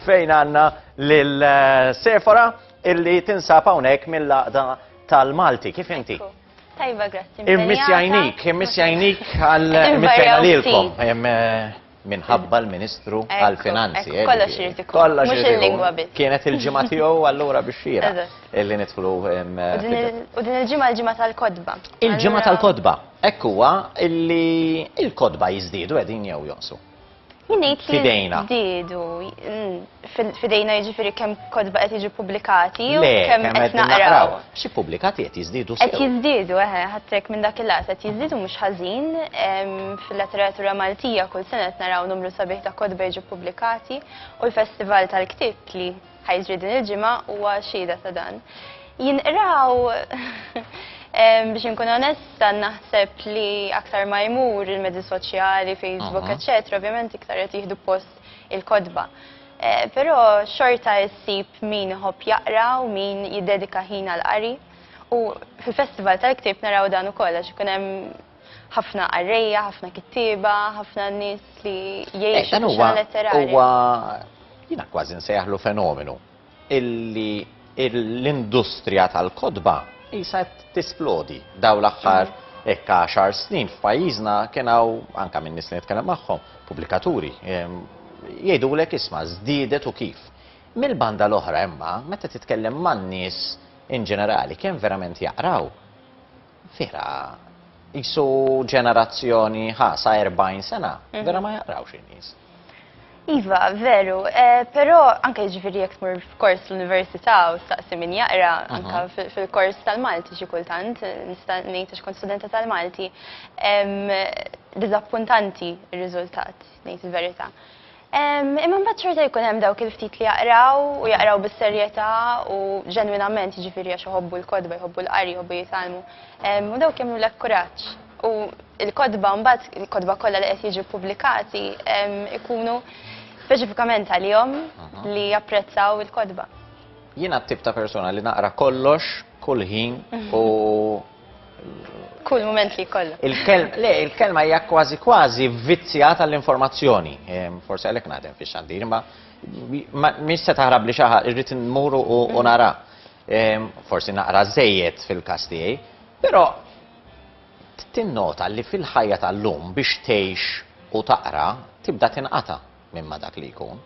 Fejn għandna lil eh, Sefora illi tinsab hawnhekk mill-laqda tal-Malti. Kif inti? Tajba, grazzi. Immissjajnik, immissjajnik għal immissjajna lilkom. Eh, minħabba l-Ministru għal-Finanzi. Eh, kollox irid ikun. Kollox irid il-lingwa biss. Kienet il-ġimgħa tiegħu allura biex xira illi nidħlu. U din il-ġimgħa l-ġimgħa tal-kodba. Il-ġimgħa tal-kodba. Ekk huwa illi il-kodba jiżdiedu qegħdin jew jonsu. Jinnejt li fidejna. Didu, mm, fidejna jiġifieri kemm kodba qed jiġu pubblikati u kemm qed naqraw. Xi pubblikati qed jiżdiedu Qed jiżdiedu, eħe, eh, eh, ħadtek minn dak il-lat qed jiżdiedu mhux ħażin fil-letteratura Maltija kull sena qed naraw numru sabiħ ta' kodba jiġu pubblikati u l-Festival tal-Ktieb li Ħa jiġri din il-ġimgħa huwa xhieda ta' dan. Jinqraw biex inkun onesta naħseb li aktar ma jmur il-mezzi soċjali, Facebook, eċetera, ovvjament iktar qed jieħdu post il-kodba. Eh, però xorta issib min iħobb jaqra u min jiddedika ħin għal qari. U fil-festival tal-ktib naraw dan ukoll għax ikun hemm ħafna qarrejja, ħafna kittieba, ħafna nies li eh, jgħixu Dan huwa huwa jiena kważi nsejħlu fenomenu illi l-industrija tal-kodba jisa tisplodi daw l-aħħar mm. ekka xar snin f'pajjiżna kien hawn anke minn nies li nitkellem magħhom, pubblikaturi, jgħidulek isma' żdiedet u kif. Mill-banda l-oħra imma meta titkellem man-nies in ġenerali kemm verament jaqraw Vera, jisu ġenerazzjoni ħa sa 40 sena, mhm. vera ma jaqrawx in-nies. Iva, veru, eh, pero anke ġifiri jek tmur f'kors l-Università u staqsi min jaqra, mhm. anke fil-kors tal-Malti xi kultant, nista' ngħid kont studenta tal-Malti, dizappuntanti r-riżultat, ngħid il-verità. Imma mbagħad xorta jkun hemm dawk il-ftit li jaqraw u jaqraw bis-serjetà u ġenwinament, jiġifieri għax iħobbu l-kotba, jħobbu l-qari, jħobbu jitgħallmu. U dawk jagħmlulek kuraġġ. U l-kotba mbagħad, il-kotba kollha li qed jiġu ppubblikati jkunu speċifikament għalihom li japprezzaw il-kotba. Jiena t-tip ta' persuna li naqra kollox, kull ħin u kull moment li kollha. Le, il-kelma hija kważi kważi vizzja tal-informazzjoni. Forse għalhekk naħdem fi xandir, ma mhix se taħrab li xaħa irrid nmur u nara. Forsi naqra żejjed fil-każ tiegħi, però tinnota li fil-ħajja tal-lum biex tgħix u taqra tibda tinqata'. minn ma dak li jkun.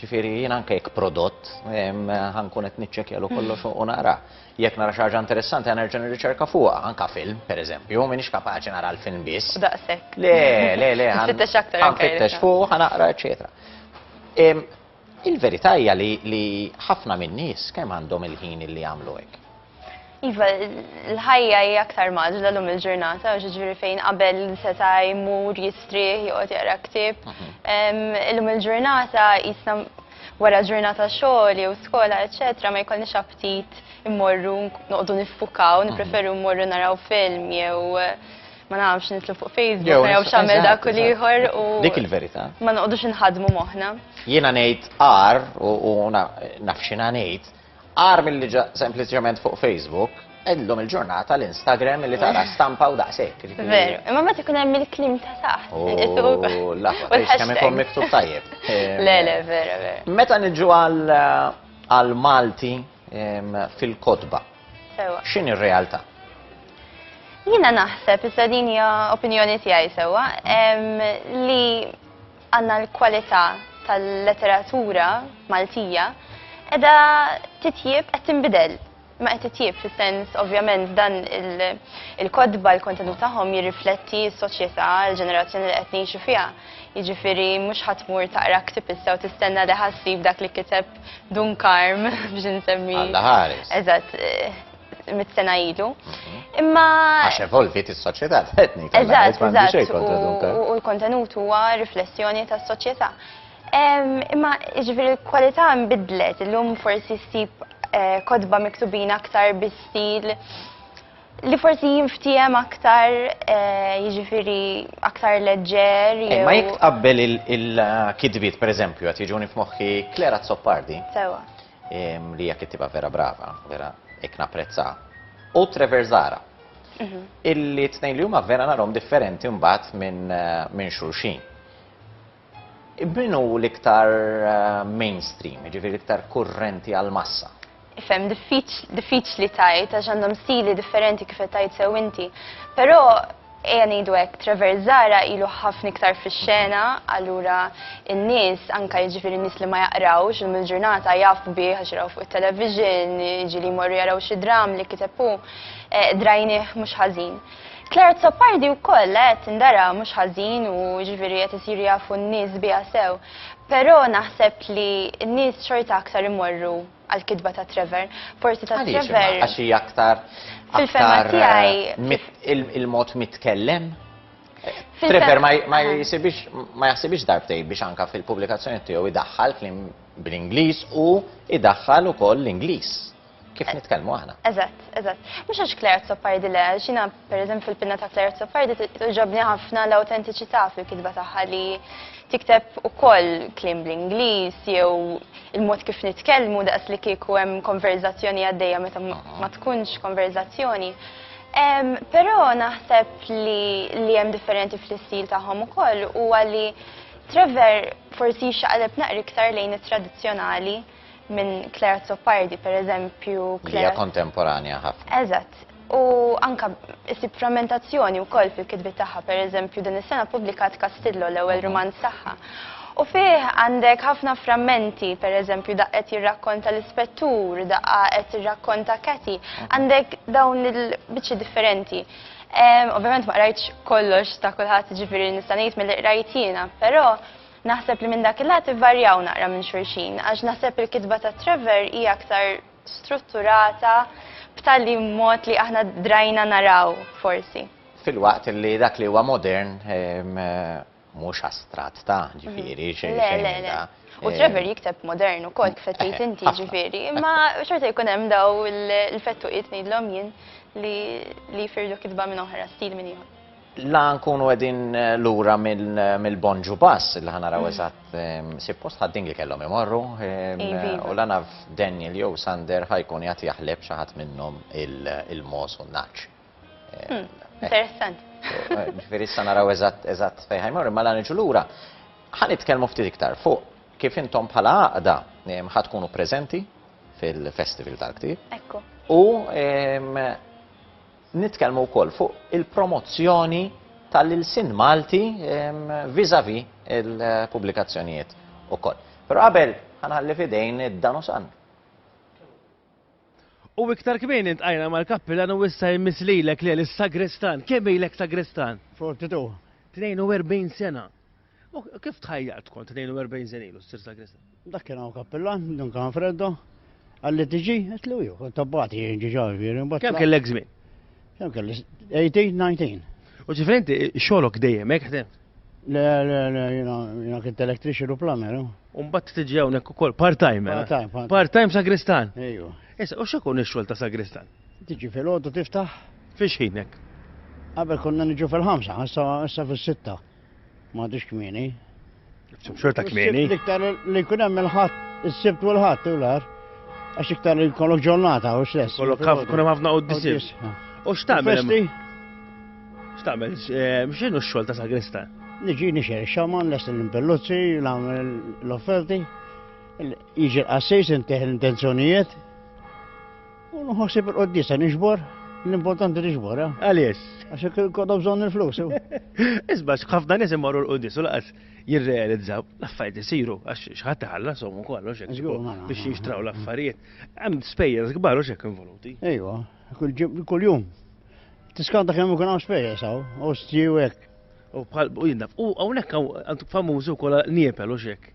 Ġifiri, jien anke jekk prodott, ħankun qed niċċekja lu kollox u nara. Jekk nara xi ħaġa interessanti għan nerġa' nirriċerka fuqha, anke film, pereżempju, m'iniex kapaċi nara l-film biss. Daqshekk. Le, le, le, ħanfittex aktar. Ħanfittex fuq, ħanaqra, eċetera. Il-verità hija li ħafna min-nies kemm għandhom il-ħin li jagħmlu hekk. Iva, l-ħajja hija aktar maġla lum il-ġurnata, u ġiġri fejn qabel seta' jmur jistrieħ joqgħod jaqra ktieb. Mhm. Illum il-ġurnata jisna wara ġurnata xogħol jew skola, eċetera, ma jkollniex aptit immorru noqogħdu niffukaw, mhm. nippreferu mmorru naraw film jew ma nafx nitlu fuq Facebook, jew xamel dak u liħor u. Dik il-verità. Ma noqdux nħadmu moħna. Jiena ngħid ar u nafxina ngħid Agħar milli ġa sempliċement fuq Facebook, illum il-ġurnata l-Instagram li tara eh. stampa u daqshekk. Veru, imma meta ikun hemm il-klim ta' taħt. Oh, l-aħħar, kemm ikun miktub tajjeb. Le, le, vera, vera. Meta niġu għal Malti fil-kotba. X'in ir-realtà? Jiena naħseb, issa din hija opinjoni tiegħi sewwa, li Għandna l-kwalità tal-letteratura Maltija edha titjib qed tinbidel. Ma qed titjib fis-sens ovvjament dan il-kodba l-kontenut tagħhom jirrifletti s-soċjetà, l-ġenerazzjoni li qed ngħixu fiha. Jiġifieri mhux ħadd mur taqra ktib issa u tistenna li ħassib dak li kiteb Dun Karm biex insemmi. Alla ħares. Eżatt. mit sena ilu. Imma. Għax evolvit is-soċjetà tħetni. Eżatt, eżatt. U l-kontenut huwa riflessjoni tas-soċjetà. Imma ġifieri l-kwalità nbidlet, illum forsi ssib eh, kodba miktubin aktar bi stil li forsi jinftijem aktar eh, jiġifieri aktar leġġer. Eh, ma jek tqabbel il-kidbiet, per eżempju, għat jiġuni f'moħħi Klera Zoppardi. Sewa. Li hija kittieba vera brava, vera hekk napprezza. U Trevor Zara. Mhm. Illi tnejn li huma vera narhom differenti mbagħad minn eh, min xulxin. Min hu l-iktar eh, mainstream, ġifieri l-iktar kurrenti għal-massa? Fem, diffiċli tajt, għax għandhom stili differenti kif tajt sew inti. Però Ejja ngħidu hekk, Trevor Zahra ilu ħafna iktar fix-xena, allura n-nies, anke jiġifieri n-nies li ma jaqrawx, illum il-ġurnata jafu bih għax jarawh fuq it-television, jiġieli jmorru jaraw xi dramm li kiteb hu, qdrajnieh mhux ħażin. Claire Azzopardi wkoll qed tindara mhux ħażin u jiġifieri qed isiru jafu n-nies biha sew. Però naħseb li n-nies xorta aktar imorru għall-kitba ta' Trevor. Forsi ta' Trevor. Għaliex imma għax hija aktar aktar eh, il-mod mitkellem? Trevor ma jisibix ma jaħsibix darbtej biex anka fil-pubblikazzjoni tiegħu idaħħal klim bl-Ingliż u idaħħal ukoll l-Ingliż. Kif eh, nitkellmu aħna? Eżatt, eżatt. Mhux għax Claire Zoppardile, xina Pereżempju fil-pinna ta' Claire Azzopardi togħġobni ħafna l-awtentiċità fil-kitba tagħha li tikteb ukoll kliem bl-Ingliż jew il-mod kif nitkellmu daqs li kieku hemm konverżazzjoni għaddejja meta ma tkunx konverżazzjoni. Però naħseb li hemm differenti fl-istil tagħhom ukoll huwa li Trevor forsi jixxaqleb naqra iktar lejn it-tradizzjonali minn Claire Azzopardi, per eżempju. Hija kontemporanja ħafna. Eżatt. U anka isib frammentazzjoni wkoll fil-kitbi tagħha, per eżempju, din is-sena pubblikat Kastillo l-ewwel romanz tagħha. U fih għandek ħafna frammenti, per eżempju, daqqet jirrakkonta l-ispettur, daqqa qed jirrakkonta Kati, għandek dawn il-biċċi differenti. Ovvjament ma qrajtx kollox ta' kulħadd ġifieri nista' ngħid mill-qrajtina, però Naħseb li minn dak il-lat ivvarjaw naqra minn xulxin għax naħseb il-kitba ta' Trevor hija aktar strutturata b'tali mod li aħna drajna naraw forsi. Filwaqt li dak li huwa modern mhux astratt ta' ġifieri xejn xejn. U Trevor jikteb modern ukoll kif qed tgħid inti ġifieri, imma xorta jkun hemm dawn il-fettuqiet ngħidlhom jien li jfirdu kitba minn oħra, stil minn ieħor. La nkunu qegħdin lura mill-bon ġu pass li ħa naraw eżatt sippost ħaddin li kellhom imorru u la naf Daniel jew Sander ħajkun jagħti jaħleb xi ħadd minnhom il-mos u n-naċ. Hmm, interessant. Ġifieri issa naraw eżatt eżatt fejn ħajmorru, ma la niġu lura. Ħa nitkellmu ftit iktar fuq kif intom bħala għaqda ħad tkunu preżenti fil-Festival tal-Ktib. Ekku. U Nitkellmu wkoll fuq il-promozzjoni tal-ilsien Malti vis-à-vis il-pubblikazzjonijiet ukoll. Però qabel ħa nħalli f'idejn id-Danusan. U iktar kmieni ltqajna mal-Kappillan u issa jmiss lilek Lel, is-Sagrestan. Kemm ilek Sagrestan? 42. 42 sena. U kif tħajjart kont 42 sen ilu s-sir sagrista? Dak kien għaw kappillan, dun kan freddo, għalli tiġi, għetlu ju, kont tabbati ġiġa viri. Kem kell egzmin? Kem kell 18, 19. U ġifrenti, xolok dejjem, ek ħdem? Le, le, le, jina kint elektrixi u plamer. Umbat tiġi għawnek u kol, part-time. Eh? Part-time. Part-time sagristan. Ejju. Issa, u xekun ix-xol ta' sagristan? Tiġi fil-ħodu tiftaħ. Fiex ħinek? Għabel konna nġu fil-ħamsa, issa fil-sitta. M'għadux kmieni. Xorta kmieni. Iktar li jkun hemm il-ħadd, is-sibt u l-ħadd u l-ar. Għax iktar li jkollok ġurnata u stess. Kollok kun hemm ħafna quddies. U x'tagħmel? X'tagħmel? Eh, x'inhu x-xogħol ta' sagrista? Niġi nixer xaman, lest l-impelluzzi, l-offerti, jiġi l-qassis, inteħ l-intenzjonijiet, U nħossib il-qoddisa nixbor, l-importanti nixbor, eh? Għaliex? Għax jekk kodhom bżonn il-flus. Isba' ħafna nies imorru l-qoddis u laqas jirrealizzaw l-affarijiet isiru għax x'ħadd iħallas somu kollox hekk biex jixtraw l-affarijiet. Hemm spejjeż kbar u x'hekk involuti. Ejwa, kuljum. Tiskanta kemm ikun hawn spejjeż hawn, u stiju hekk. U bħal u jinnaf, u hawnhekk hawn famużi wkoll niepel u x'hekk.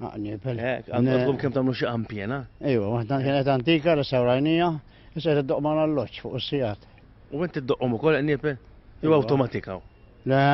Għaqni, per. Ek, għandkom kem tamlu xie għampjena? Ejwa, waħda kienet antika, restawrajnija, issa t doqman għall-loċ fuq s-sijat. U inti t-doqqom u koll għannipe? Jew automatika? Le.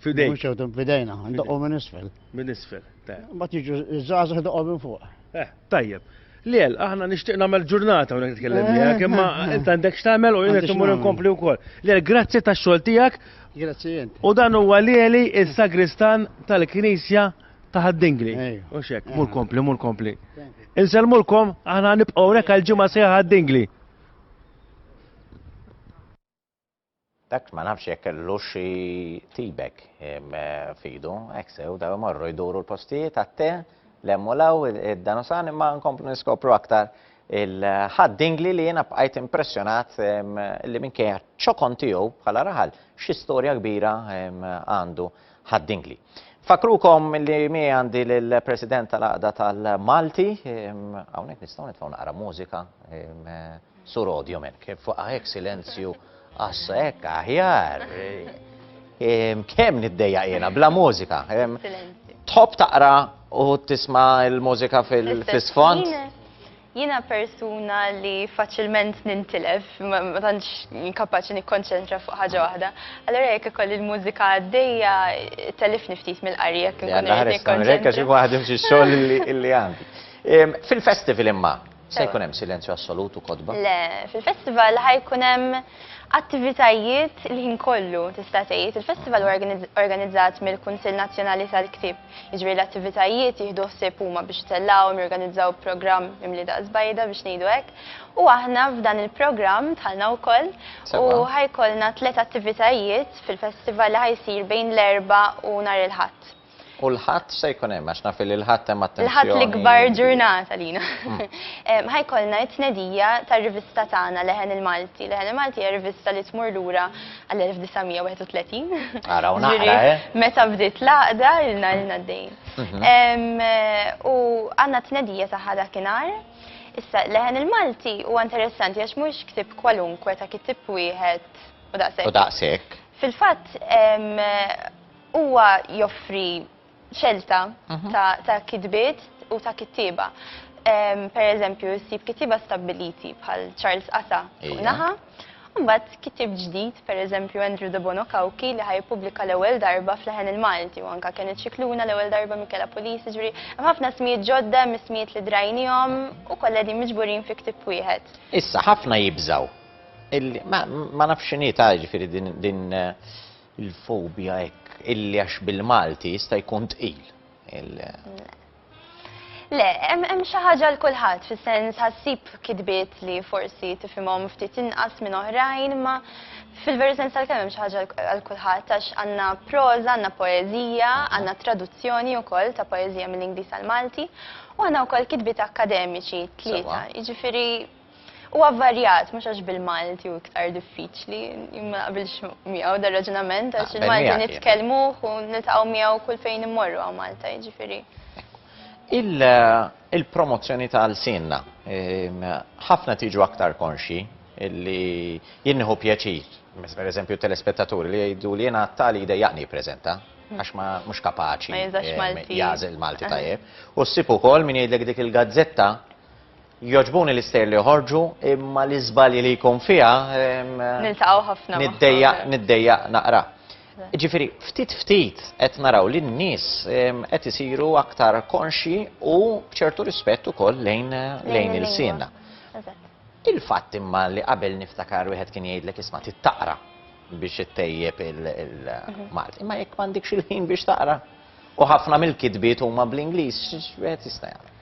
Fidejn. Mux għawtum fidejna, doqqom minn isfel. Minn isfel, ta. Ma tiġu, zazax doqqom minn fuq. Eh, tajjeb. Liel, aħna nixtieq nagħmel ġurnata u nitkellem miegħek, eh, imma eh, inti għandek x'tagħmel u jien qed imur inkompli wkoll. Liel, grazzi tax-xogħol tiegħek. Grazzi jent. U dan huwa lieli is-sagristan tal-Knisja Taħad dingli. U xek, mur kompli, mur kompli. Insellmulkom, aħna nibqgħu rek għal ġimgħa sejħa dingli. Dak ma nafx jekk kellu xi tibek fidu, hekk sew daw imorru jduru l-postijiet għatte lemmu law id-danusan imma nkomplu niskopru aktar il-ħad dingli li jiena bqajt impressjonat li minkejja ċokon tiegħu bħala raħal xi storja kbira għandu. Ħad-Dingli. Nfakkrukom li mi għandi l-President tal-Aqda tal-Malti, hawnhekk nistgħu nitfgħu naqra mużika, sur audio men, kif fuq hekk silenzju għassa hekk aħjar. Kemm niddejja jiena bla mużika. Top taqra u tisma' l-mużika fil-sfond. Jiena persuna li faċilment nintilef, ma tantx kapaċi nikkonċentra fuq ħaġa waħda. Allura jekk ikolli l-mużika għaddejja, tellifni ftit mill-qari jekk inkun irrid nikkonċentra. Jalla ħares tagħmel hekk għax inkun ħadimt xi xogħol li għandi. Fil-festival imma, se jkun hemm silenzju assolut u kotba? Le, fil-festival ħa jkun hemm attivitajiet il-ħin kollu, tista' tgħid. Il-festival huwa organizzat mill-Kunsill Nazzjonali tal-Ktieb. Jiġifieri l-attivitajiet jieħdu ħsieb huma biex itellgħuhom, jorganizzaw programm mimli daqs bajda biex ngħidu hekk. U aħna f'dan il-programm dħalna wkoll u ħa jkollna tliet attivitajiet fil-festival li ħa jsir bejn l-Erbgħa u nhar il-Ħadd. U l-Ħadd se jkun hemm għax naf li l-Ħadd hemm attenzjoni. L-Ħadd l-ikbar ġurnata lina. Ħa jkollna t-tnedija tar-rivista tagħna Leħen il-Malti. Leħen il-Malti hija rivista li tmur lura għall-1931. Ara u naqra, eh? Meta bdiet l-għaqda, ilna ilna d-dejn. Mhm. U għanna t-tnedija taħħa dakinhar. Issa, leħen il-Malti huwa interessanti għax mhux ktib kwalunkwe ta' kitib wieħed u daqshekk. U daqshekk. Fil-fatt huwa joffri xelta ta' kitbiet u ta' kittieba. Per eżempju, ssib kittieba stabbiliti bħal Charles Asa fuq naħa, u mbagħad kittieb ġdid, per eżempju Andrew Debono Cauchi li ħa jippubblika l-ewwel darba f'leħen il-Malti u anke Kenneth Scicluna l-ewwel darba Michela Pulis, jiġifieri hemm ħafna ismijiet ġodda, hemm ismijiet li drajniehom u kollha qegħdin miġburin fi ktieb wieħed. Issa, ħafna jibżgħu illi, ma nafx x'inhi ta' jiġifieri din Il-fobja hekk illi għax bil-Malti jista' jkun tqil. Le, hemm xi ħaġa l kulħadd fis-sens ħassib kitbiet li forsi tifhimhom ftit inqas minn oħrajn, ma fil-veru sens tal-kemm hemm xi ħaġa għal kulħadd għax għandna proża, għandna poeżija, għandna traduzzjoni wkoll ta' poeżija mill-Ingliż għall-Malti u għandna wkoll kitbiet akkademiċi tlieta. Jiġifieri Huwa avvarjat, mhux għax bil-Malti hu iktar diffiċli, jien ma naqbilx miegħu dar raġunament għax Naqbel il-Malti miegħek jien. nitkellmuh u niltaqgħu miegħu kull fejn immorru hawn Malta, jiġifieri. Il- Il-promozzjoni ta' lsienna. Ehm, Ħafna tiġu aktar konxji li jien nieħu pjaċir, per eżempju telespettaturi li jgħidu li jiena għattali jdejjaqni jippreżenta għax ma mhux kapaċi Ma jeżax ehm, Malti. jagħżel Malti Aha. tajjeb. U ssib ukoll min jgħidlek dik il-gazzetta Jogħġbuni l-istejjer li joħorġu, imma l-iżbalji li jkun fiha ehm, Niltaqgħu ħafna. niddejja niddejja naqra. Ġifieri ftit ftit qed naraw li n-nies ehm, qed isiru aktar konxji u b'ċertu rispett ukoll lejn lejn il-siena. Il-fatt imma li qabel niftakar wieħed kien jgħidlek isma' tittaqra biex ittejjeb il-Malti. Mhm. Imma jekk m'għandekx il-ħin biex taqra. U ħafna mill-kitbiet huma bl-Ingliż, x'wieħed jista' jagħmel.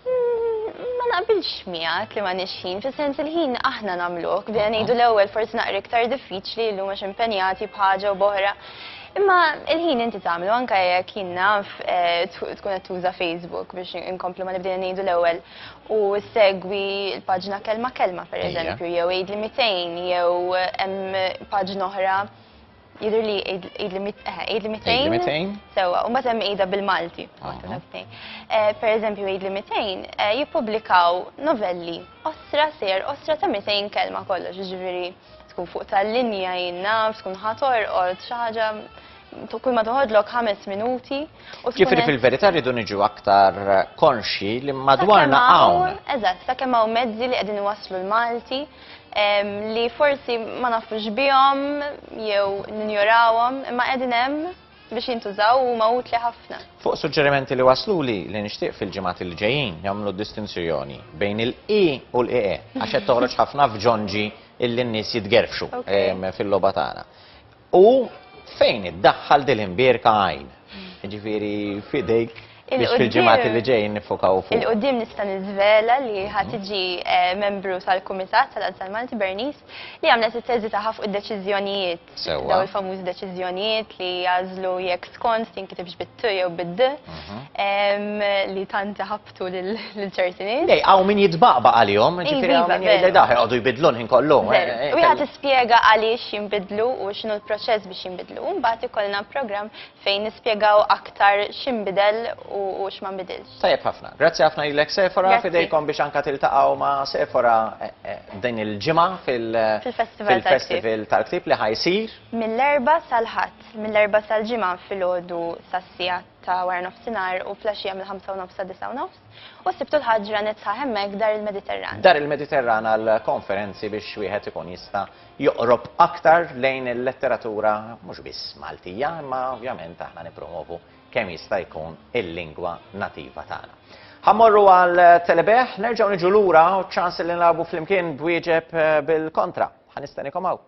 Ma naqbilx miegħek li ma nixħin, fis-sens il-ħin aħna nagħmluh, bdejna ngħidu l-ewwel forsi naqra iktar diffiċli llum għax impenjati b'ħaġa u b'oħra. Imma il-ħin inti tagħmlu anke jekk jien naf eh, tkun qed tuża Facebook biex inkomplu ma nibdejna ngħidu l-ewwel u segwi l-paġna kelma kelma pereżempju jew għid li 200 jew hemm paġna oħra Jidher li għidli Għidli 200. 200. Sewwa, u mbagħad hemm għida bil-Malti. Eh, per eżempju, għidli 200 eh, jippubblikaw novelli osra ser osra ta' 200 kelma kollox, ġifieri tkun fuq tal-linja jinnaf, tkun ħator orqod xi ħaġa kull ma toħodlok ħames minuti. Ġifri fil-verità rridu niġu aktar konxi li madwarna hawn. Eżatt, sakemm hawn mezzi li qegħdin waslu l-Malti li forsi ma nafux bihom jew ninjorawhom imma qegħdin hemm biex jintużaw u ma utli ħafna. Fuq suġġerimenti li waslu li li nixtieq fil-ġimgħat il ġejjin jagħmlu distinzjoni bejn il-i u l-ie għax qed toħroġ ħafna f'ġonġi illi n-nies jitgerfxu fil-logħba tagħna. U fejn iddaħħal dil-imbierka għajn? Ġifieri fidejk biex fil-ġimgħat li ġejjin nifokaw fuq. Il-qudiem nista' niżvela li ħa tiġi eh, membru tal-Kumitat tal-Azzar Malti Bernice li għamlet it-teżi tagħha fuq id-deċiżjonijiet. Daw il-famużi deċiżjonijiet li jażlu jekk skont tinkitibx bit-tu jew bid-d mhm. li tant ħab tul il-ċerti nies. Dej, għaw min jitbaqba għalihom, iva, ġifiri għaw min jgħidlek daħħa għadu jibidlu l-ħin kollu. U eh, eh, jgħat eh. ispjega għaliex jimbidlu u xinu l-proċess biex jimbidlu. Mbagħad ikollna program fejn nispjegaw aktar ximbidel u x'ma nbidilx. Tajjeb ħafna. Grazzi ħafna lilek Sefora fidejkom biex anka tiltaqgħu ma' Sefora din il-ġimgħa fil-festival tal-ktib li ħajsir. Mill-erba sal-ħadd, mill-erba sal-ġimgħa fil-ħodu sas-sijat ta' wara nofsinhar u flaxxija mill-ħamsa u nofs sa' disa' u nofs, u s-Sibt u l-Ħadd ġranet sħaħ hemmhekk f'Dar il-Mediterran. Dar il-Mediterran għall-konferenzi biex wieħed ikun jista' joqrob aktar lejn il-letteratura mhux biss Maltija imma ovvjament aħna nippromwovu kemm jista' jkun il-lingwa nativa tagħna. Ħa mmorru għal Telebeħ, nerġgħu niġu lura u ċ-ċans li nilagħbu flimkien b'wieġeb bil-kontra. Ħa nistennikom hawn.